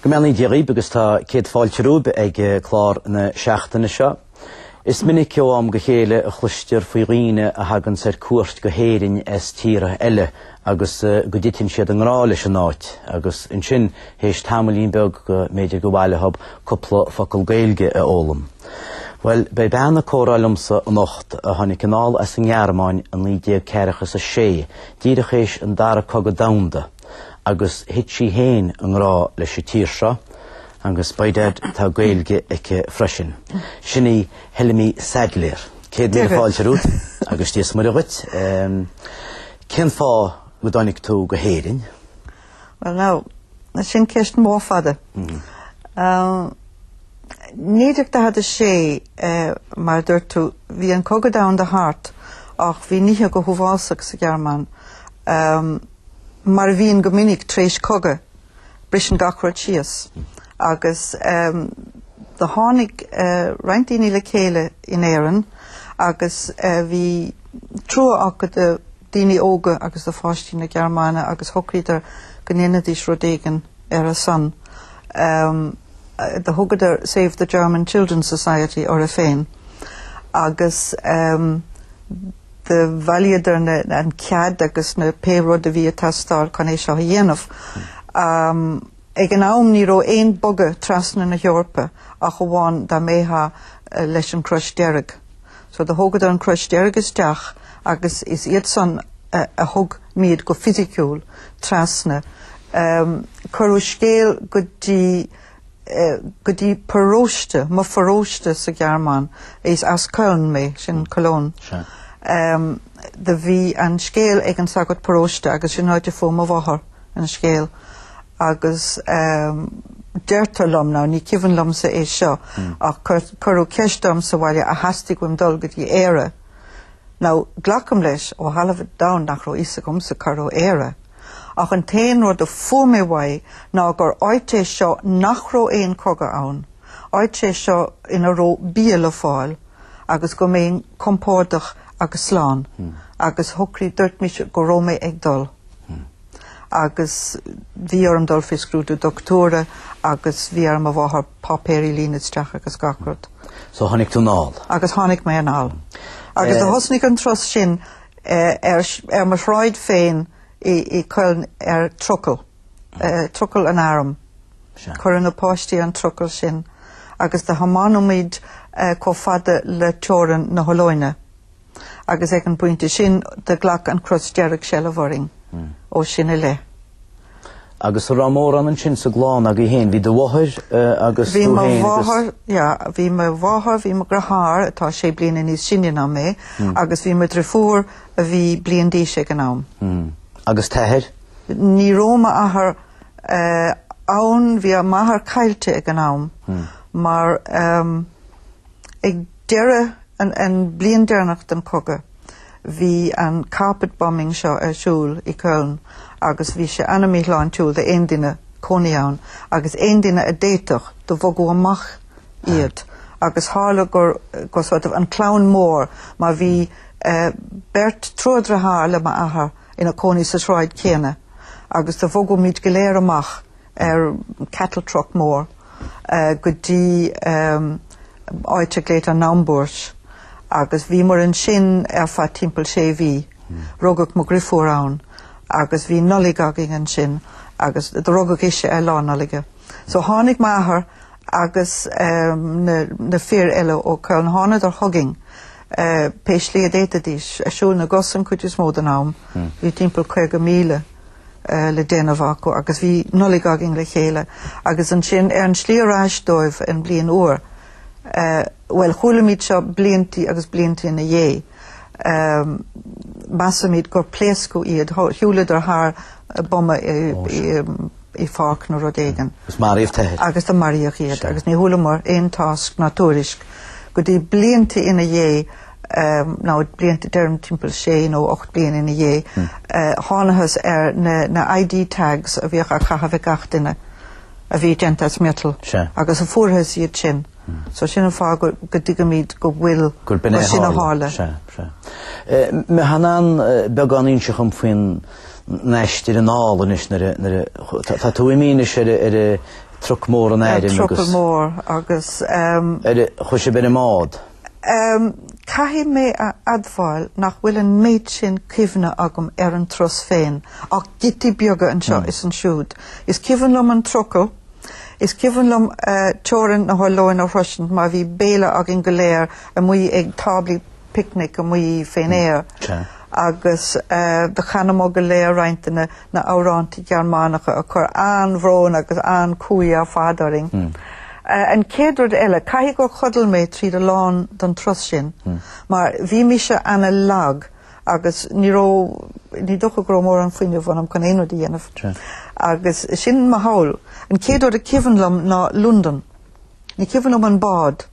Go mbeannaí Dia Dhaoib agus tá céad fáilte romhaib ag clár na seachtaine seo. Is minic ó am go chéile a chloistear faoi dhaoine a thaganns ar cuairt go hÉirinn as tíortha eile agus go dtiteann siad i ngrá leis an áit agus ansin Théis tamaillín beag go mb'fhéidir gur mhaith leothab cúpla focal Gaeilge a fhoghlaim. Bhuel, beidh bean ag comhrá liomsa anocht a tháinig anall as an nGearmáin i naoi déag ceathracha is a sé, díreach théis an dara cogadh domhanda, agus thit sí féin i ngrá leis an tír seo, agus, by dad, tá Gaeilge aici freisin. Sin í Helmi Saidléar. Céad míle fáilte romhat, agus Dia is Muire dhuit. Cén fáth go dtáinig tú go hÉirinn? Well now, sin ceist mór fada. Naoi déag daichead a sé, mar a dúirt tú, bhí an cogadh domhanda thart ach bhí nithe go huafásach sa Ghearmáin. Mar a bhíonn go minic tar éis cogadh, briseann gach rud síos agus do tháinig roinnt daoine le chéile in Éirinn agus bhí trua acu daoine óga agus do pháistí na Gearmáine agus shocraíodar go ndéanfaidís rud éigin ar a son. Do thugadar Save the German Children Society orthu féin agus do bhailíodar an cead agus na pé rud a bhí ag teastáil chun é seo a dhéanamh. Ag an am ní raibh aon bogadh trasna na hEorpa ach amháin dá mbeitheá leis an Crois Deirg. so do thógadar an Crois Deirg isteach agus is iadsan a thug muid go fisiciúil trasna. Cuireadh scéal go dtí go dtí paróiste, mo pharóiste sa Ghearmáin, is as Köln mé, sin Cologne, do bhí an scéal ag an sagart paróiste agus sin áit a fuair mo mháthair. an scéal agus deirtear liom, now, ní cuimhin liomsa é seo, ach cuireadh ceist orm sa bhaile ar theastaigh uaim dul go dtí Éire. Now, glacaim leis, ó thalamh an domhain nach raibh fhios agamsa cá raibh Éire. Ach an t-aon rud a fuair mé uaidh ná gur áit é seo nach raibh aon cogadh ann, áit é seo ina raibh bia le fáil agus go mbeinn compordach agus slán, agus shocraigh, dúirt mise go raibh mé ag dul. agus bhí orm dul faoi scrúdú dochtúra agus bhí ar mo mháthair páipéirí a líonadh isteach agus gach rud. So tháinig tú anall? Agus tháinig mé anall. Agus do thosnaigh an turas sin ar mo shráid féin i Köln ar trucail, trucail an airm. Cuireadh na páistí an trucail sin agus do thiomáineamid chomh fada le teorainn na hOllóine. agus ag an bpointe sin do ghlac an Chrois Dearg seilbh orainn ó sin i leith. Agus an raibh mórán ansin sa gclann agaibh féin, bhí do mháthair agus tú féin agus... Bhí mo mháthair, yeah, bhí mo mháthair, bhí mo dheartháir atá sé bliana níos sine ná mé agus bhí mo dheirfiúr a bhí bliain d'aois ag an am. Agus t'athair? Ní raibh m'athair ann, bhí m'athair caillte ag an am mar ag... deireadh, an bliain deireanach den chogadh, bhí an carpet bombing seo ar siúl i Köln agus bhí sé ana-míshláintiúil d'aon duine cónaí ann agus aon duine a d'fhéadfadh, do bogadh amach iad agus tharla gur, gur sort of an clann mór mar bhí beirt deartháireacha le m'athair ina cónaí sa tsráid chéanna agus do bhogaimid go léir amach ar cattle truck mór go dtí áit a glaodtar Naumburg agus bhí muid ansin ar feadh timpeall sé mhí. Rugadh mo dheirfiúr ann agus bhí Nollaig againn ansin agus do rugadh ise ar Lá Nollaige. So tháinig m'athair agus na fir eile ó Köln, thánadar chugainn pé slí a d'fhéadfaidís, ar shiúl na gcos an chuid is mó den am, bhí timpeall caoga míle. le déanamh acu agus bhí Nollaig againn le chéile agus ansin ar an slí ar ais dóibh an bhliain úr, bhuel chualaimid seo blianta agus blianta ina dhiaidh, measaimid gur pléascadh iad, shiúladar thar boma i pháirc nó rud éigin. Agus maraíodh t'athair. Agus do maraíodh iad agus ní chualamar aon tásc ná tuairisc go dtí blianta ina dhiaidh. nó blianta deirim timpeall sé nó ocht bliain ina dhiaidh, thánathas ar na ID tags a bhíodh á caitheamh ag gach duine a bhí déanta as miotal agus fuarthas iad sin. So sin an fáth go dtuigimid go bhfuil, gur sin a tharla. Féadann beagán inseacht dom faoin aistear anall anois nuair a, nuair a, tá tú imithe anois ar a, ar a truck mór an airm agus, ar ár gcúrsa ar an mbád. Caithfidh mé a admháil nach bhfuil an méid sin cuimhne agam ar an turas féin, ach giotaí beaga anseo is ansiúd. Is cuimhin liom an trucail, is cuimhin liom teorainn na hOllainne a shroisint mar bhí béile againn go léir amuigh ag táblaí picnic amuigh fén aer agus do chanamar go léir roinnt de na na amhráintí Gearmánacha a chuir an-bhrón agus an-cumhaidh ar fad orainn. An chéad rud eile, caithfidh gur chodail mé tríd a lán don turas sin, mar bhí mise ana lag agus ní raibh, ní dócha go raibh mórán fuinneamh ionam chun aon rud a dhéanamh. Agus sin mo pholl. An chéad rud is cuimhin liom ná Londain. Ní cuimhin liom an bád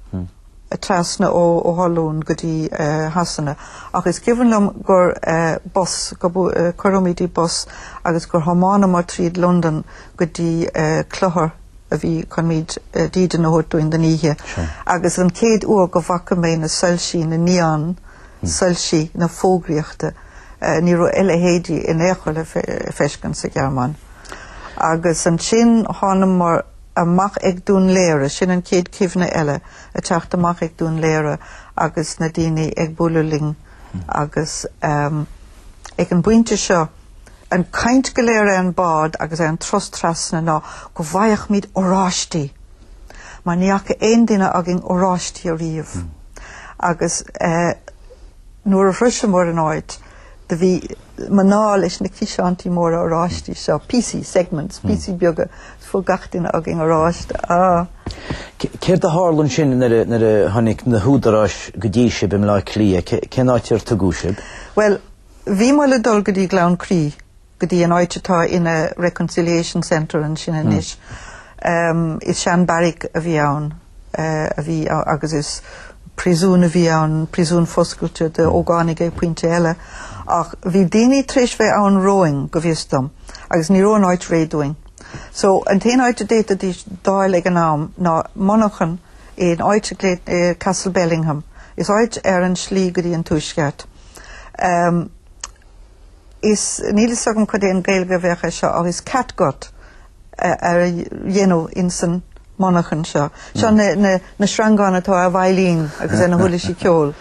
a trasna ó Holland go dtí Shasana ach is cuimhin liom gur bus, cuireadh muid i bus agus gur thiomáineamar tríd Londain go dtí clochar a bhí chun muid dídean a thabhairt dúinn don oíche agus an chéad uair go bhfaca mé na soilsí, na neon soilsí, na fógraíochta, ní raibh a leithéidí in aon chor le feiscint sa Ghearmáin. Agus ansin thánamar. amach ag Dún Laoghaire. Sin an chéad chuimhne eile, ag teacht amach ag Dún Laoghaire agus na daoine ag bualadh linn agus ag an bpointe seo an chaint go léir ar an bhád agus ar an turas trasna ná go bhfaigheadh muid oráistí mar ní fhaca aon duine againn oráistí ariamh. Agus nuair a shroiseamar an áit Do bhí mná leis na ciseántaí móra oráistí seo, píosaí, segments, píosaí beaga, is fuair gach duine againn oráiste. Ah! Céard a tharla ansin nuair a, nuair a tháinig na húdaráis go dtí sibh i mBleá Cliath? Cé, cén áit ar tugadh sibh? Bhuel, bhí muid le dul go dtí Gleann Crí. go dtí an áit atá ina Reconciliation Centre ansin anois. Is sean barrack a bhí ann a bhí agus is príosún a bhí ann, príosún foscailte do ógánaigh ag pointe eile. Ach bhí daoine tar éis bheith ann romhainn go bhfios dom agus ní raibh an áit réidh dúinn. So an t-aon áit a d'fhéadfaidís d'fháil ag an am ná monarchan in áit Castlebellingham. Is áit ar an slí go dtí an tuaisceart. Is níl fhios agam cad é an Gaeilge a bheadh air seo ach is catgut a dhéanamh ins an monarchan seo. Seo na na sreangáin atá ar veidhlín agus ar na huirlisí ceoil.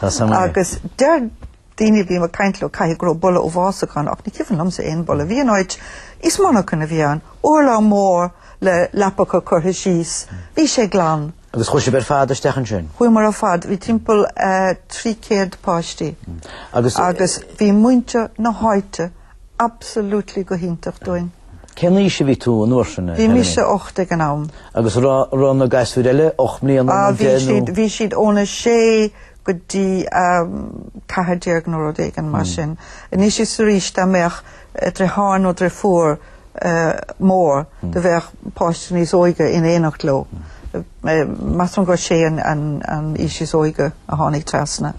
Agus deir daoine a bhím ag caint leo caithfidh go raibh boladh uafásach ann ach ní cuimhin liomsa aon boladh. Bhí an áit is monarchan a bhí ann. Urlár mór le leapacha curtha síos. Bhí sé glan. Agus chuaigh sibh ar fad isteach ansin? Chuamar ar fad, bhí timpeall 300 páistí agus bhí muintir na háite absolutely go hiontach dúinn. Cén aois a bhí tú an uair sin? Bhí mise ocht ag an am. Agus raibh na gasúir eile ocht mbliana nó deich nó? Bhí siad, bhí siad óna 6 go dtí 14 nó rud éigin mar sin. Anois is arís dá mbeadh deartháir nó deirfiúr mór do bheadh páiste níos óige in éineacht leo. Measaim gur sé an aois is óige a tháinig trasna.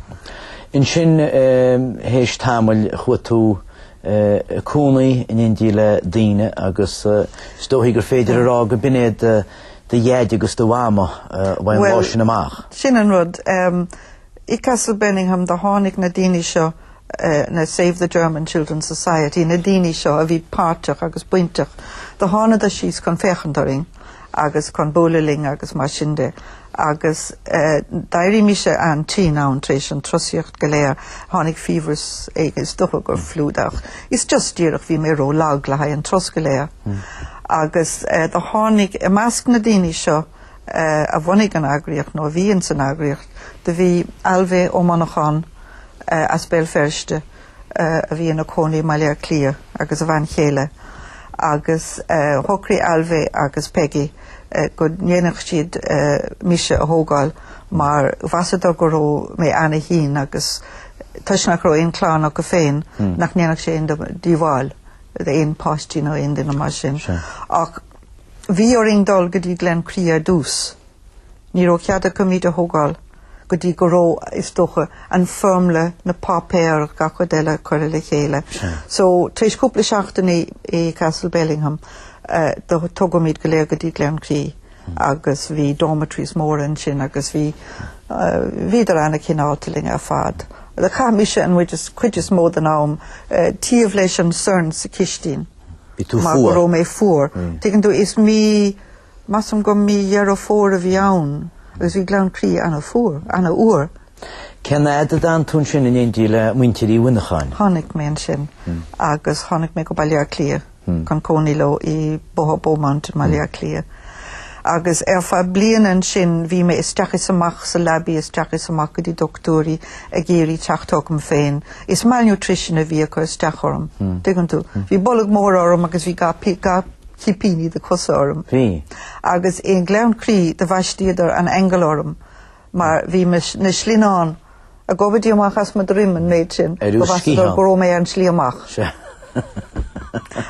Ansin théis tamaill chuaigh tú a chónaí in éindí le daoine agus is dóichí gur féidir a rá go b'in é do Dhaid agus do Mhama ón lá sin amach. Bhuel, sin an rud. I Castlebellingham do tháinig na daoine seo, na Save the German Children's Society, na daoine seo a bhí páirteach agus bainteach, do thánadar síos chun féachaint orainn agus chun buaileadh linn agus mar sin de. Agus d'éirigh mise an-tinn ann tar éis an trosaíocht go léir. Tháinig fiabhras éigin, is dócha gur fliú, ach is just díreach go raibh mé ró-lag le haghaidh an tros go léir. Agus do tháinig, i measc na daoine seo, a bhunaigh an eagraíocht nó a bhí ins an eagraíocht, do bhí Ailbhe Ó Monacháin as Béal Feirste a bhí ina cónaí i mBaile Átha Cliath agus a bhean chéile agus shocraigh Ailbhe agus Peggy go ndéanfadh siad mise a thógáil mar mheasadar go raibh mé ana-thinn agus toisc nach raibh aon chlann acu féin hmm. nach ndéanfadh sé aon díobháil d'aon páistí nó aon duine mar sin. Ach Bhí orainn dul go dtí Gleann Crí ar dtús. Ní raibh cead acu muid a thógáil go dtí go raibh, is dócha, an foirmle, na páipéir, gach rud eile curtha le chéile. So, tar éis cúpla seachtaine i Castlebellingham, tógadh muid go léir go dtí Gleann Crí agus bhí dormitories móra ansin agus bhí, bhíodar an-chineálta linn ar fad. Chaith mise an chuid is mó den am taobh leis an sorn sa chistin. Bhí tú fuar. Mar go raibh mé fuar. Tuigeann tú, is mí, measaim go mí Dheireadh Fómhair a bhí ann agus bhí Gleann Crí ana-fuar, ana-fhuar. Cén fhad a d'fhan tú ansin in éindí le muintir Uí Mhonacháin? Tháinig mé ansin agus tháinig mé go Baile Átha Cliath chun cónaí leo i mBóthar Beaumont i mBaile Átha Cliath. Agus ar feadh bliain ansin bhí mé isteach is amach sa leabaidh, isteach is amach go dtí dochtúirí ag iarraidh teacht chugam féin. Is malnutrition a bhí ag cur isteach orm, tuigeann tú. Bhí bolg mór orm agus bhí gach cipíní de cosa orm. Bhí. Agus i nGleann Crí do bhaisteadar an aingeal orm mar bhí na slinneáin. ag gobadh díreach amach as mo dhroim an méid sin, go measadar go raibh mé ar an slí amach.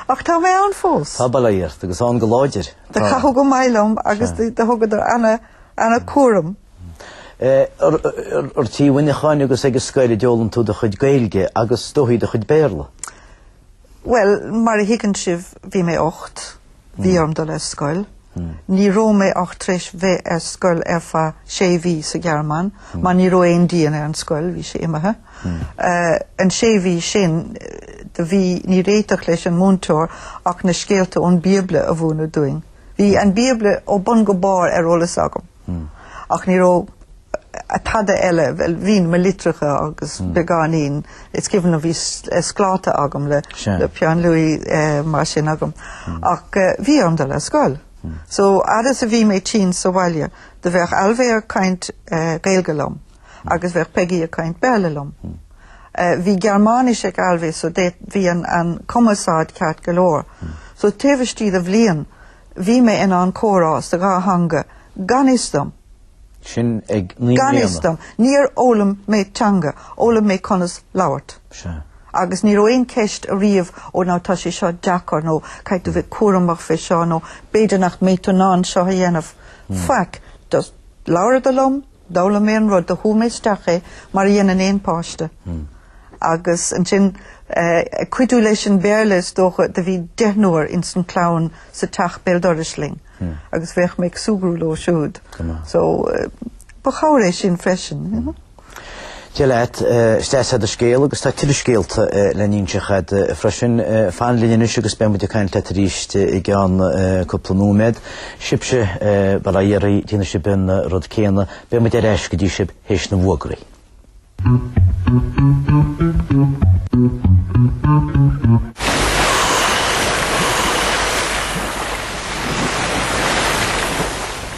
Ach tá mé ann fós. Tá bail ort, agus ann go láidir. Do caitheadh go maith liom agus do thugadar ana cúram. Ar tigh Uí Mhonacháin agus ag an scoil a d'fhoghlaim tú do chuid Gaeilge agus ar ndóigh do chuid Béarla? Bhuel, mar a thuigeann sibh, bhí mé ocht, bhí orm dul ar scoil. Ní raibh mé ach tar éis bheith ar scoil ar feadh sé mhí sa Ghearmáin, mar ní raibh aon díon ar an scoil, bhí sé imithe. An sé mhí sin do bhí, níor fhéad leis an múinteoir ach na scéalta ón Bíobla a mhúineadh dúinn. Bhí an Bíobla ó bun go barr ar eolas agam. ach ní raibh tada eile, bhuel, bhínn mo litreacha agus beagáinín, is cuimhin liom bhí scláta agam le peann luaidhe mar sin agam, ach bhí orm dul ar scoil. So, fhad is a bhí mé tinn sa bhaile, do bheadh Albhaí ag caint Gaeilge liom agus bheadh Peigí ag caint Béarla liom. Bhí Gearmáinis ag Albhaí so bhí an cumarsáid ceart go leor. So taobh istigh de bhliain Bhí mé in ann comhrá sa dhá theanga gan fhios dom. Sin ag naoi mbliana? Gan fhios dom. Níor fhoghlaim mé teanga, fhoghlaim mé conas labhairt. Sea. Agus ní raibh aon ceist ariamh, ó no tá sé seo deacair nó caithfidh tú bheith cúramach fé seo nó b'fhéidir nach mbeidh tú in ann seo a dhéanamh. Hmm. Faic. Just labhair siad liom, D'fhoghlaim mé an rud, do shúigh mé isteach é mar a dhéanann aon pháiste. Agus ansin ag cuidiú leis an Béarla is dócha, do bhí deichniúr ins an clann sa teach béal dorais linn agus bheadh mé ag súgradh leo siúd. So ba chabhair é sin freisin. Dia leat, is deas é do scéal agus tá tuilleadh scéalta le n-inseacht agat freisin. Fan linn anois agus beimid ag caint leat arís i gceann cúpla nóiméad. Sibhse bail ó Dhia oraibh déanfaidh sibh an rud céanna, beimid ar ais go dtí sibh théis na bhfuagraí.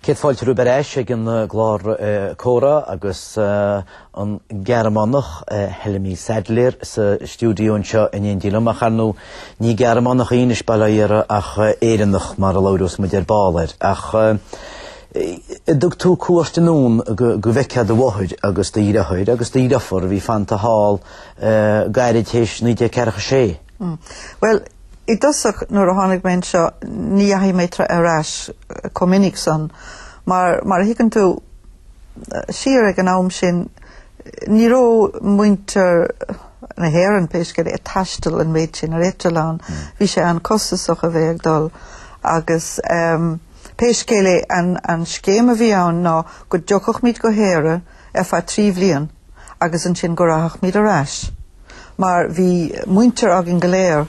Céad fáilte romhaibh ar ais ag an gclár Comhrá agus an Gearmánach Helmi Saidléar sa stiúideo anseo in éindí liom. Ach ar ndóigh, ní Gearmánach í, anois, bail ó Dhia uirthi, ach Éireannach, mar a labhrós muid ar ball air. Ach thug tú cuairt anonn go bhfeicfeá do mháthair agus do dhriotháir agus do dhriofar a bhí fanta thall gairid théis 1946. Bhuel, i dtosach nuair a tháinig mé anseo ní dheachaigh mé ar ais chomh minic san mar, mar a thuigeann tú, siar ag an am sin ní raibh muintir na hÉireann, pé scéal é, ag taisteal an méid sin ar eitleán. Bhí sé an-chostasach a bheith ag dul agus pé scéal é, an scéim a bhí ann ná go dtiocfadh muid go hÉire, ar feadh trí bhliain agus ansin go rachadh muid ar ais mar bhí muintir againn go léir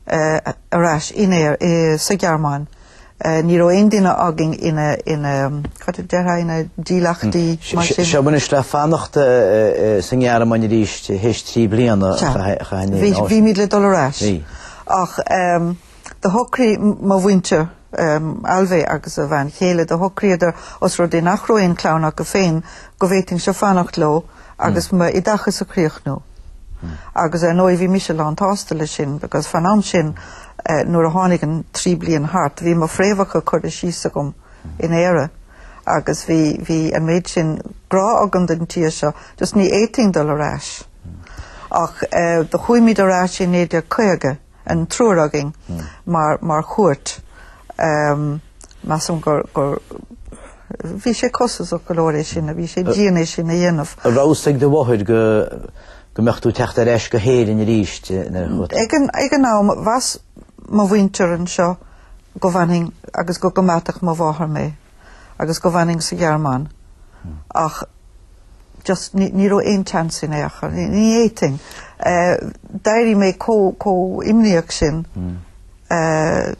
ar ais in ar sa Ghearmáin. Ní raibh aon duine againn ina cad a déarfá ina dílleachtaí mar sin. So bhí an sibh le fanacht sa nGearmáin arís théis trí bliana a chaitheamh anseo. Bhímid le dul ar ais ach. Do shocraigh mo mhuintir, Ailbhe agus a bhean chéile, do shocraíodar os rud é nach raibh aon chlann acu féin go bhféadfainnse fanacht leo agus m'oideachas a chríochnú. Agus ar ndóigh bhí mise lán tsásta leis sin because fán am sin nuair a tháinig an trí bliain thart bhí mo fhréamhacha curtha síos agam in Éire agus bhí bhí an méid sin grá agam don tír seo just ní fhéadfainn dul ar ais. Ach do chuaimid ar ais i 1950. an triúr againn mar chuairt. Measaim go raibh sé costasach go leor é sin a bhí sé dian é sin a dhéanamh. An raibh fhios ag do mháthair go mbeadh tú ag teacht ar ais go hÉirinn arís nuair a chuaigh tú? Ag an am, mheas mo mhuintir anseo go bhfanfainn agus go gcoimeádfadh mo mháthair mé. agus go bhfanfainn sa Ghearmáin ach just ní raibh aon tseans in aon chor, ní fhéadfainn. D'éirigh mé chomh imníoch sin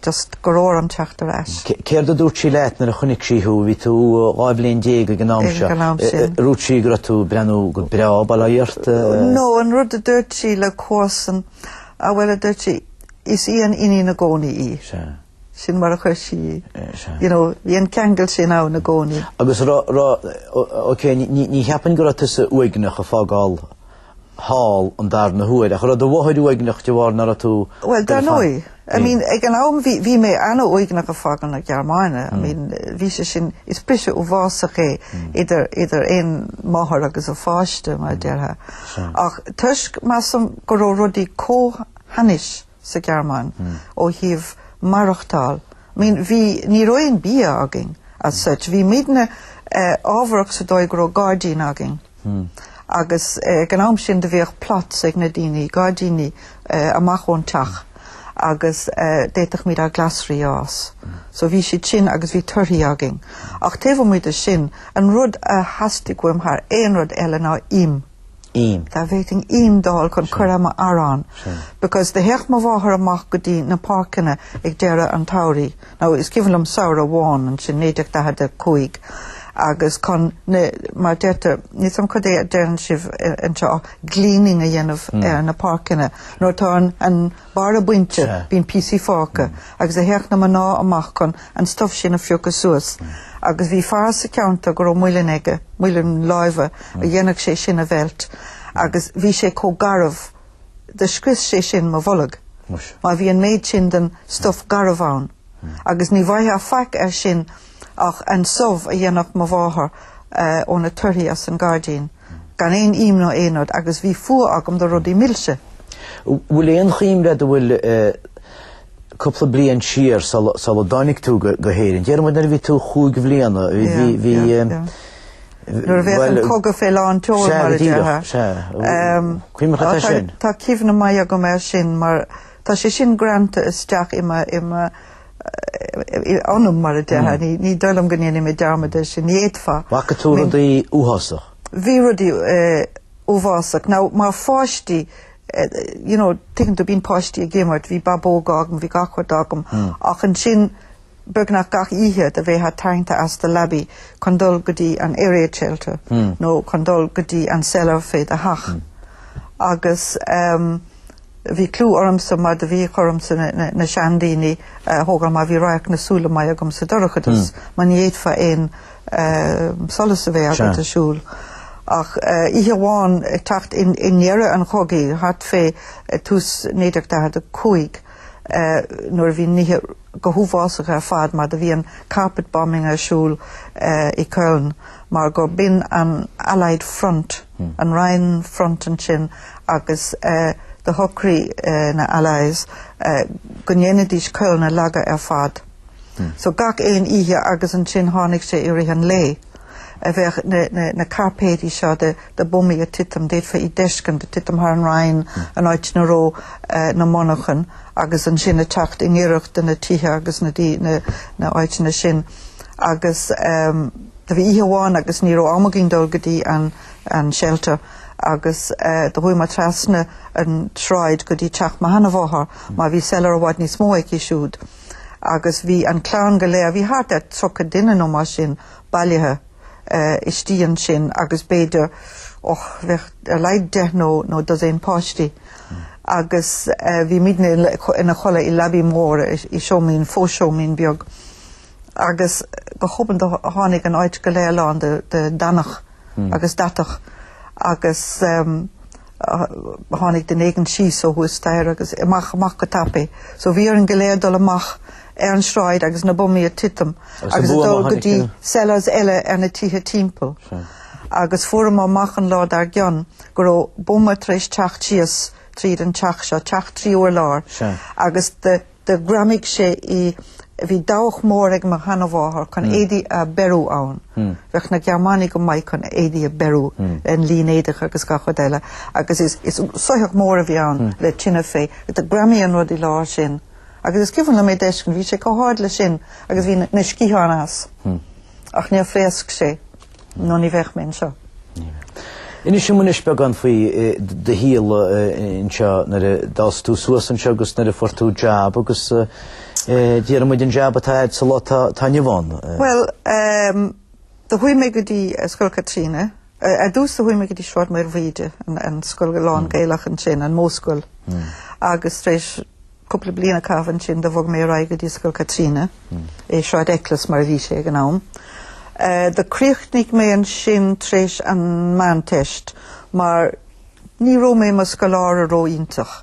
just go raibh orm teacht ar ais. Céard a dúirt sí leat nuair a chonaic sí thú? Bhí tú dhá bhliain déag ag an am seo. Ag an am sin. Dúirt sí go raibh tú breathnú go breá bail ort? No, an rud a dúirt sí le comharsa, bhuel a dúirt sí, is í an iníon i gcónaí í. Sea. Sin mar a chuir sí í. You know, bhí an ceangal sin ann i gcónaí. Agus ra, ra, OK, ní, ní cheapfainn go raibh tusa uaigneach ag fágáil thall an darna huair, ach raibh do mháthair uaigneach de bharr nach raibh tú Bhuel, dar ndóigh. I mean, ag an am bhí, bhí mé an-uaigneach ag fágáil na Gearmáine. I mean, bhí sé sin, is briseadh uafásach é idir, idir aon mháthair agus a pháiste, mar a déarfá. Ach toisc, measaim, go raibh rudaí chomh hainnis, sa Ghearmáin ó thaobh maireachtáil. I mean bhí, ní raibh aon bia againn as such. Bhí muidne eh ámharach sa dóigh go raibh gairdín againn agus eh ag an am sin do bhíodh plots ag na daoine, gairdíní eh amach ón teach agus eh d'fhéadfadh muid ár glasraí a fhás. So bhí siad sin agus bhí torthaí againn. Ach taobh amuigh de sin, an rud a theastaigh uaim thar aon rud eile ná im. im. Dá bhféadfainn im a fháil chun cur ar m'arán because do théadh mo mháthair amach go dtí na páirceanna ag deireadh an tsamhraidh, now is cuimhin liom samhradh amháin, ansin 1945, agus chun na, mar deirtear, níl a fhios agam cad é a deireann sibh anseo, gleaning a dhéanamh ar na páirceanna. Nuair atá an barra bainte bíonn píosaí fágtha agus do théadh na mná amach chun. an stuif sin a phiocadh suas agus bhí fear sa cheantar go raibh muileann aige, muileann láimhe, a dhéanfadh sé sin a mheilt agus bhí sé chomh garbh do scrios sé sin mo bholg. Muis. Mar bhí an méid sin den stuif garbh ann agus ní bhfaighfeá faic air sin ach an subh a dhéanfadh mo mháthair ó na torthaí as an ngairdín. gan aon im ná aon rud agus bhí fuath agam do rudaí milse. Bhfuil aon chuimhne agat abhfuil cúpla bliain siar sular dtáinig tú go hÉirinn, déarfaimid nuair a bhí tú cúig bliana, bhí, nuair a bheadh an cogadh fé lán tseoil mar a déarfá, sea, go deo, cuimhneach atá sin. Tá cuimhne maith agam air sin mar tá sé sin greanta isteach i m' anam mar a déarfá. Ní dóigh liom go ndéanfaidh mé dearmad air sin. D'fhéadfá. Bhfaca tú rudaí uathásach? Bhí rudaí uafásach. Now, mar pháistí, you know, tuigeann tú, bíonn páistí ag imirt, bhí babóg agam, bhí gach rud agam, ach ansin beagnach gach oíche do bheifeá tarraingthe as do leabaidh chun dul go dtí an air raid shelter nó chun dul go dtí an cellar fé do theach. Agus. Bhí clú ormsa mar do bhí cúram ormsa na seandaoine a thógáil mar bhí radharc na súile maith agam sa dorchadas mar ní fhéadfá aon solas a bheith agat ag siúl. Ach oíche amháin ag teacht i ndeireadh an chogaidh, thart fé tús 1945, nuair a bhí nithe go huafásach ar fad mar do bhí an carpet bombing ar siúl i Köln mar gur b'in an Allied Front, an Rhine Front ansin agus do shocraigh na Allies go ndéanfaidís Köln a leagadh ar fad. So gach aon oíche agus ansin tháinig sé i rith an lae. a bheadh na cairpéidí seo de bumaí ag titim, d'fhéadfá iad d'fheiscint, ag titim thar an Rhine, an áit ina raibh na monarchain, agus ansin ag teacht i ngiorracht do na tithe agus na áiteanna sin. Agus do bhí oíche amháin agus ní raibh am againn dul go dtí an shelter agus do chuaigh mé trasna an tsráid go dtí teach mo sheanamháthar, mar bhí cellar i bhfad níos mó aici siúd, agus bhí an clann go léir, bhí thart ar tríocha duine nó mar sin, bailithe istigh ansin agus b'fhéidir, och, bheadh ar a laghad deich nó dosaen páistí agus bhí muidne ina chodladh i leabaidh mhór, i seomín, fó-seomín beag agus go hobann do tháinig an áit go léir lán de deannach. agus deatach agus tháinig duine éigin síos ó thuas staighre agus amach amach go tapaidh. So bhí orainn go léir dul amach ar an sráid agus na bumaí ag titim agus ag dul go dtí cellars eile ar na tithe timpeall. Agus fuaireamar amach an lá dar gcionn go raibh buma tar éis teacht síos tríd an teach seo, teach trí urlár, agus do. Do ghreamaigh sé í. Bhí dabhach mór ag mo sheanamháthar chun éadaí a beiriú ann. Bheadh na Gearmánaigh go maith chun éadaí a beiriú, an línéadach agus gach rud eile, agus is soitheach mór a bhí ann le tine fé. Do ghreamaigh an rud i lár sin. Agus is cuimhin liom é d'fheiscint, bhí sé chomh hard leis sin agus bhí na sciatháin as. Ach níor phléasc sé. No ní bheadh mé anseo. Inis dom anois beagán faoi do shaol anseo nuair a d'fhás tú suas anseo agus nuair a fuair tú jab agus dár ndóigh an jab atá a'd sa lá atá inniu ann. Bhuel do chuaigh mé go dtí Scoil Chaitríona. Ar dtús do chuaigh mé go dtí Sráid Maoilbhríde, an scoil lán Gaelach ansin, an módhscoil, agus tar éis Cúpla bliain a chaitheamh ansin do bhog mé ar aghaidh go dtí Scoil Chaitríona, i Sráid Eccles mar a bhí sé ag an am. Do críochnaigh mé ansin tar éis an Meánteist mar ní raibh mé i mo scoláire ró-iontach.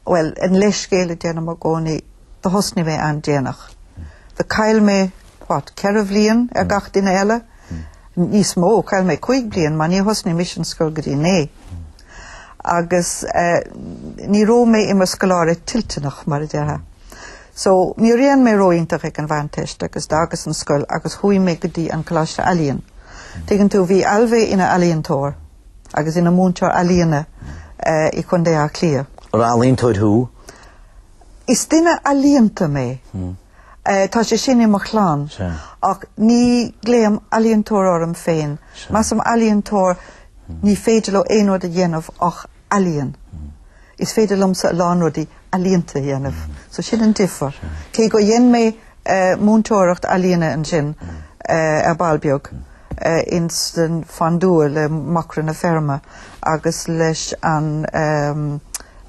Bhuel, an leithscéal a déanaim i gcónaí, do thosnaigh mé an-déanach. Do chaill mé what, ceithre bhliain ar gach duine eile? níos mó, chaill mé cúig bliain mar níor thosnaigh mise an scoil go dtí naoi. Agus ní raibh mé i mo scoláire toilteanach mar a déarfá. So ní rinne mé ró-iontach ag an Mheánteist agus d'fhágas an scoil agus chuaigh mé go dtí an Coláiste Ealaíon. Tuigeann tú, bhí Ailbhe ina ealaíontóir agus ina múinteoir ealaíona i Contae Átha Cliath. An ealaíontóir thú? Is duine ealaíonta mé. Eh, tá sé sin i mo chlann. Ach ní glaoim ealaíontóir orm féin. Measaim ealaíontóir, ní féidir leo aon rud a dhéanamh ach ealaíon. Is féidir liomsa a lán rudaí ealaíonta a dhéanamh. So sin an difear. Cé gur dhein mé eh, múinteoireacht ealaíne ansin eh, ar ball beag eh, ins an Mhuine Dhubh le Macra na Feirme agus leis an ehm,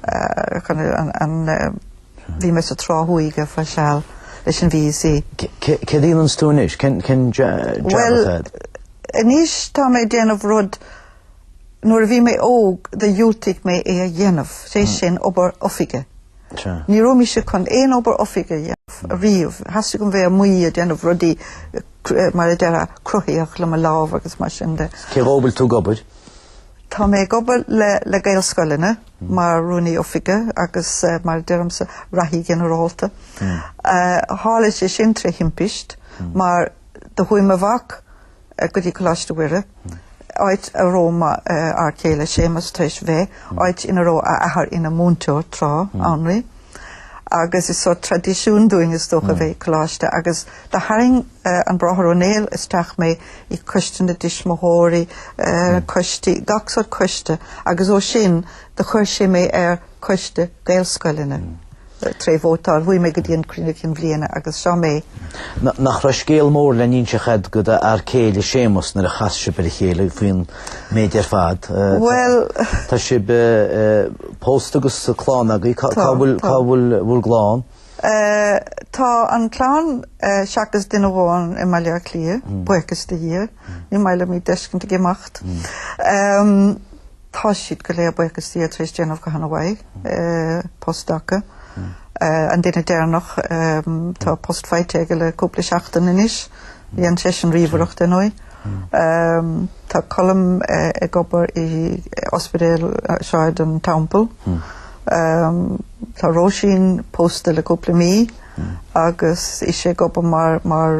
eh, chun- an, an, eh, Bhí mé sa Trá Thuaidh ar feadh seal leis an VEC. Céard a dhéananns tú anois? Cén jab atá agat? Bhuel, anois tá mé ag déanamh rud nuair a bhí mé óg do dhiúltaigh mé é a dhéanamh, is é sin obair oifige. Ní raibh mise chun aon obair oifige a dhéanamh ariamh, theastaigh uaim bheith amuigh ag déanamh rudaí mar a déarfá cruthaitheach le mo lámh agus mar sin de. Cé dó a bhfuil tú ag obair? Tá mé ag obair le le Gaelscoileanna mar Rúnaí Oifige agus mar a deirimse Reathaí Ginearálta. Tharla sé sin tré thimpist mar do chuaigh mo mhac go dtí Coláiste Mhuire, áit a raibh m'fhear céile Séamus tar éis bheith, áit ina raibh a athair ina múinteoir tráth, Annraoi. agus is sórt traidisiún dúinn is dócha a bheith ag coláiste agus do tharraing an Bráthair Ó Néill isteach mé i gcoiste na dtuismitheoirí, coistí, gach sórt coiste agus ó sin do chuir sé mé ar coiste Gaelscoileanna tré vótáil, chuaigh mé go dtí an cruinniú cinn bliana agus seo mé. Nach raibh scéal mór le n-inseacht ag d'fhear céile Séamus nuair a chas sibh ar a chéile faoin méid ar fad. Bhuel. Tá sibh pósta agus clann agaibh. Cá bhfuil bhur gclann? Tá an clann seachas duine amháin i mBaile Átha Cliath, buíochas do Dhia. Ní maith liom iad d'fheiscint ag imeacht. Tá siad go léir buíochas do Dhia tar éis déanamh go han-mhaith, post acu. An duine deireanach, tá post faighte aige le cúpla seachtain anois. Dhein seisean ríomhaireacht, ar ndóigh. Tá Colm ag obair i ospidéal Shráid an Teampaill. Tá Róisín pósta le cúpla mí agus í ag obair mar mar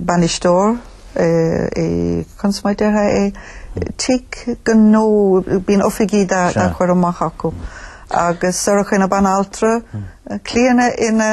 bainisteoir i conas mar a déarfá é? Tigh gnó, bíonn oifigí dá gcur amach acu. Agus Sorcha ina banaltra, Clíona ina...